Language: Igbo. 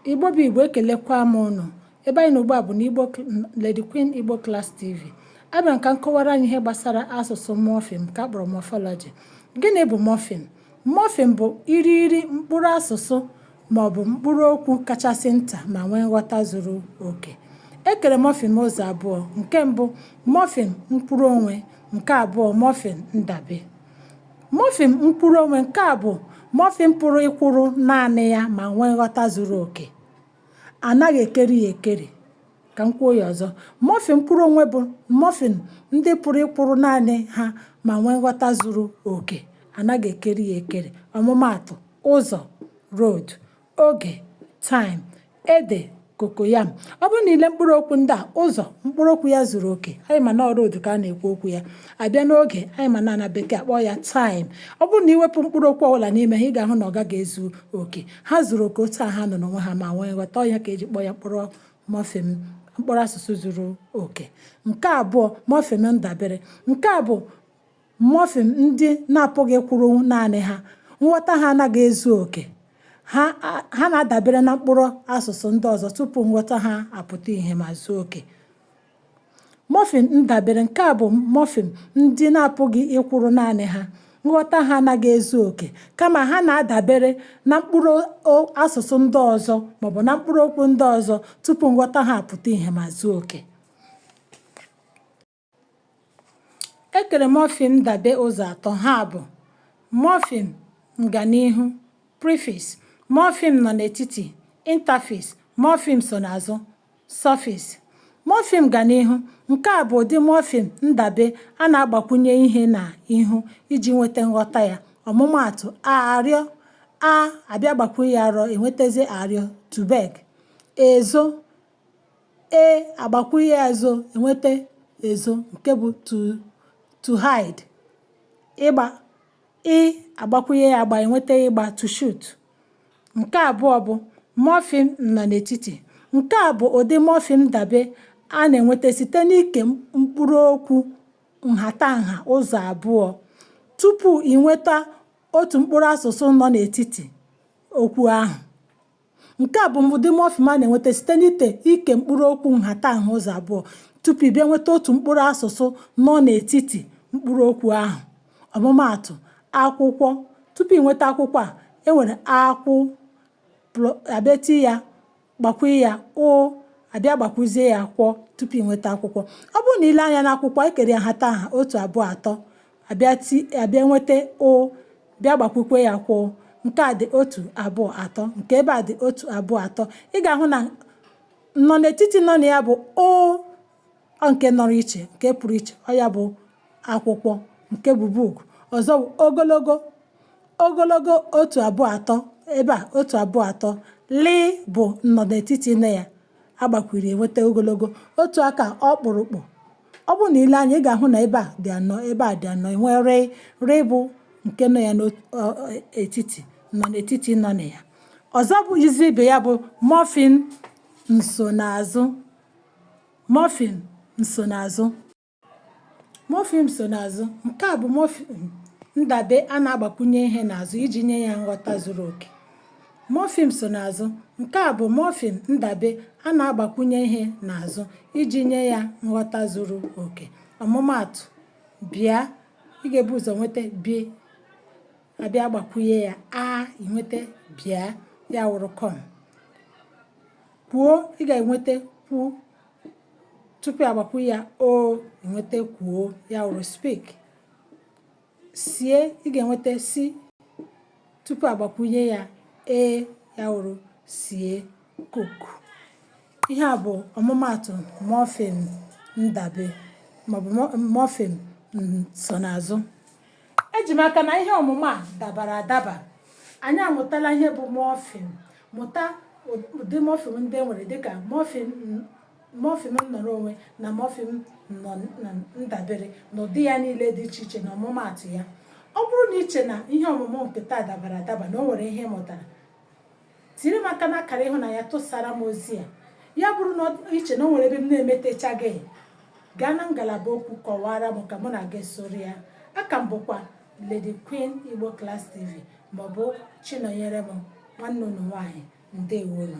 igbo bụ igbo ekelekwa m ụnụ ebe anyị nọ ugbu a bụ na Lady Queen Igbo Class TV abịara m ka m kọwara anyị ihe gbasara asụsụ mọfịm nke a kpọrọ mọfọlọji gịnị bụ mọfịm mọfịm bụ irighiri mkpụrụ asụsụ ma ọ bụ mkpụrụ okwu kachasị nta ma nwee nghọta zuru oke e kere mọfịm ụzọ abụọ nke mbụ mọfịm mkpụrụ onwe nke abụọ mọfịm ndabe Mọfịm mkpụrụonwe nke a bụ mọfịm pụrụ ịkwụrụ naanị ya ma nwee nghọta zuru oke. A naghị ekeri ya ekeri. Ka m kwuo ya ọzọ, mọfịm mkpụrụonwe bụ mọfịm ndị pụrụ ịkwụrụ naanị ha ma nwee nghọta zuru oke. A naghị ekeri ya ekeri. Ọmụmaatụ, ụzọ, road. oge time ede cocoyam ọ bụrụ na i lee mkpụrụ okwu ndị a ụzọ mkpụrụ okwu ya zuru oke anyị ma na ọ road ka a na-ekwu okwu ya a bịa n'oge anyị ma na na bekee a kpọ ya time ọ bụrụ na i wepụ mkpụrụ okwu ọbụla n'ime ha ị ga-ahụ na ọ gaghị ezu oke ha zuru oke otu a ha nọ n'onwe ha ma nwee nghọta ọ ya ka e ji kpọọ ya mọfịm mkpụrụ asụsụ zuru oke nke abụọ mọfịm ndabere nke a bụ Mọfịm ndị na-apụghị ịkwụrụ naanị ha, nghọta ha anaghị ezu oke, ha na-adabere na mkpụrụ asụsụ ndị ọzọ tupu nghọta ha apụta ihe ma zuo oke. Mọfịm ndabere, nke a bụ mọfịm ndị na-apụghị ịkwụrụ naanị ha, nghọta ha anaghị ezu oke, kama ha na-adabere na mkpụrụ asụsụ ndị ọzọ maọbụ na mkpụrụ okwu ndị ọzọ tupu nghọta ha apụta ihe ma zuo oke. e kere mọfịm ndabe ụzọ atọ ha bụ mọfịm nganihu prefix mọfịm nọ n'etiti interfix mọfịm so n'azụ suffix mọfịm nganihu nke a bụ ụdị mọfịm ndabe a na-agbakwunye ihe na ihu iji nweta nghọta ya ọmụmaatụ arịọ a a bịa gbakwunye ya rịọ e nwetazie arịọ to beg ezo e a gbakwụnye ya zo e nweta ezo nke bụ to hide ịgba ị a gbakwụnye ya gba e nweta ịgba to shoot nke abụọ bụ mọfịm nọ n'etiti nke a bụ ụdị mọfịm ndabe a na-enweta site n'ike mkpụrụ okwu nhatanha ụzọ abụọ tupu ị nweta otu mkpụrụ asụsụ nọ n'etiti okwu ahụ Nke a bụ ụdị mọfịm a na-enweta site n'ite ike mkpụrụ okwu nhatanha ụzọ abụọ tupu ị bịa nweta otu mkpụrụ asụsụ nọ n'etiti mkpụrụ okwu ahụ. Ọmụmaatụ, akwụkwọ. Tupu ị nweta akwụkwọ a, e nwere akwụ a bịa tinye ya gbakwunye ya ụ a bịa gbakwuzie ya kwọ tupu ị nweta akwụkwọ. Ọ bụrụ na i lee anya n'akwụkwọ, e kere ya nhatanha otu abụọ atọ a bịa ti a bịa nweta ụ bịa gbakwukwe ya kwọ nke a dị otu abụọ atọ nke ebe a dị otu abụọ atọ ị ga-ahụ na nnọnetiti nọ na ya bụ ụ nke nọrọ iche nke pụrụ iche ọ ya bụ akwụkwọ nke bụ book ọzọ bụ ogologo ogologo otu abụọ atọ ebe a otu abụọ atọ lị bụ nnọnetiti na ya a gbakwuru e nweta ogologo otu aka ọkpụrụkpụ ọ bụrụ na i lee anya ị ga-ahụ na ebe a dị anọ ebe a dị anọ e nwee rịị rịị bụ nke nọ ya n'etiti nnọnetiti nọ na ya ọzọ bụzi ibe ya bụ mọfịm nsonaazụ mọfịm nsonaazụ Mọfịm nsonaazụ, nke a bụ mọfịm ndabe a na-agbakwunye ihe n'azụ iji nye ya nghọta zuru oke. Mọfịm nsonaazụ, nke a bụ mọfịm ndabe a na-agbakwunye ihe n'azụ iji nye ya nghọta zuru oke. Ọmụmaatụ, bịa, ị ga-ebu ụzọ nweta bi a bịa gbakwunye ya a i nweta bịa ya wụrụ come. Kwuo, ị ga-enweta kwu tupu a gbakwu ya o e nweta kwuo ya wụrụ speak sie ị ga-enweta si tupu a gbakwunye ya e ya wụrụ sie cook ihe a bụ ọmụmaatụ mọfịm ndabe maọbụ mọfịm nsonaazụ eji m aka na ihe ọmụmụ a dabara adaba anyị amụtala ihe bụ mọfịm mụta ụdị mọfịm ndị e nwere dịka mọfịm nnọrọ onwe na mọfịm ndabere na ụdị ya niile dị iche iche na ọmụmaatụ ya ọ bụrụ na i chee na ihe ọmụmụ nke taa dabara adaba na o nwere ihe ị mụtara tiri m aka n'akara ịhụnanya tụsara m ozi a ya bụrụ na i chee na o nwere ebe m na-emetechaghị gaa na ngalaba okwu kọwara m ka mụ na gị soro ya aka m bụkwa Lady Queen Igbo Class TV maọbụ Chinonyerem nwanne unu nwaanyị ndewo nụ